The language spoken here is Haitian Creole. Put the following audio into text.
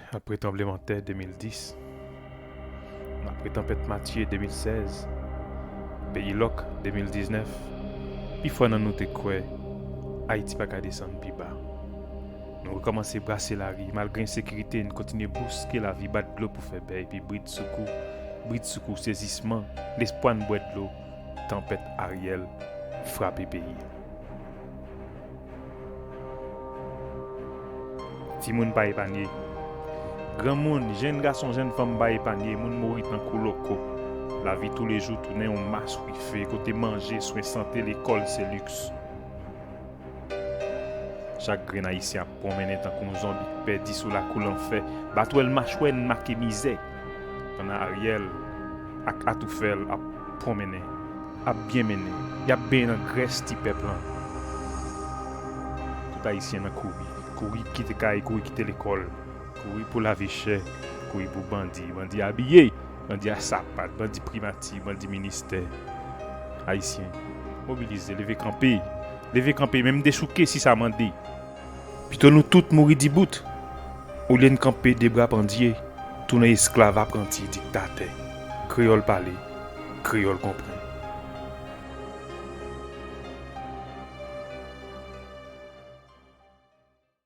Apre tranblemanntè 2010, apre tanpèt Matye 2016, peyi lòk 2019, pifò nan nou te kwè Ayiti pa ka desann pi ba. Nou rekòmanse brase lari, malgre ensekirite, n kontinye bouske lavi bat dlo pou fè bè epi brid sou kou, brid sou kou sezisman, lespwa n bwè dlo, tanpèt Ariel frape peyi a. Timoun pa epanye. Granmoun, jenn gason, jenn fanm pa epanye, moun mouri tankou loko. Lavi toulejou tounen yon mas wife kote manje, swen sante, lekòl se liks. Chak grenn Ayisyen ap pwonmennen tankou yon zonbi k pèdi sou lakou lanfè, batwèl machwè n make mizè. Pandan Ariel ak atoufèl ap pwonmennen, ap byen mennen, yap benyen nan grès ti pèp lan. Tout ayisyen nan kouri, kouri kite kay, kouri kite lekòl, kouri pou lavi chè, kouri pou bandi, bandi abiye, bandi a sapat, bandi primati, bandi ministè. Ayisyen, mobilize, leve kanpe, leve kanpe, menm dechouke si sa mande. Pito nou tout mouri dibout, olye n kanpe de bra pandye, tounen esklav apranti diktatè kreyòl pale, kreyòl konprann.